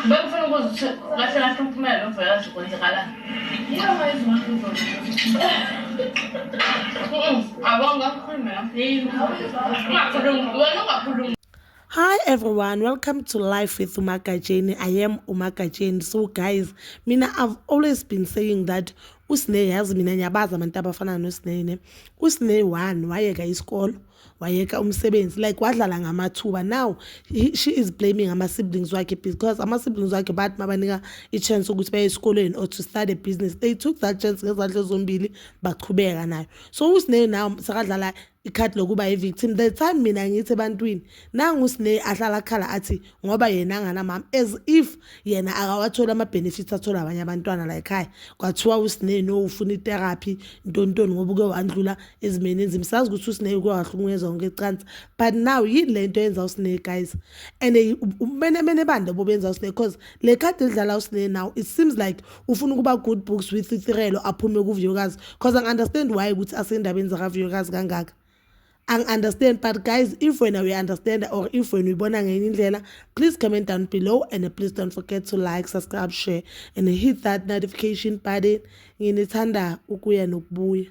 Bangfuna ukuzithola kahle kahle umphumela lo mvelakazi kwenzakalani. Hi everyone, welcome to Life with Umagajeni. I am Umagajeni. So guys, mina I've always been saying that usine yazi mina ngiyabazi abantu abafana nosinene. Usine one wayeka isikolo wayeka umsebenzi like wadlala ngamathuba now he, she is blaming ama-siblings wakhe because ama-siblings wakhe bathi mabanika i-chance ukuthi baye esikolweni or to start a business they took that chance ngezandla zombili baqhubeka nayo so usineyo now sekadlala ikhadi lokuba yi-victim the time mina ngithi ebantwini nangu usineyo ahlala khala athi ngoba yena anganamama as if yena akawatholi ama-benefits athola abanye abantwana la ekhaya kwathiwa usineni owufuna itherapy ntontoni ngoba uke wandlula ezimeni enzima sazi ukuthi usinei uke wahlukunyezwa konke ecansi but now yini le nto yenza usinei guys and ubumenemene bani lobo benza usinei because le khadi elidlala usinei now it seems like ufuna ukuba good books with ithirelo aphume kuviyokazi because angi-understand why ukuthi asendabeni zakaviyokazi kangaka angi-understand but guys if wena uyi-understand or if wena uyibona ngenye indlela please comment down below and please don't forget to like subscribe share and hit that notification button nginithanda ukuya nokubuya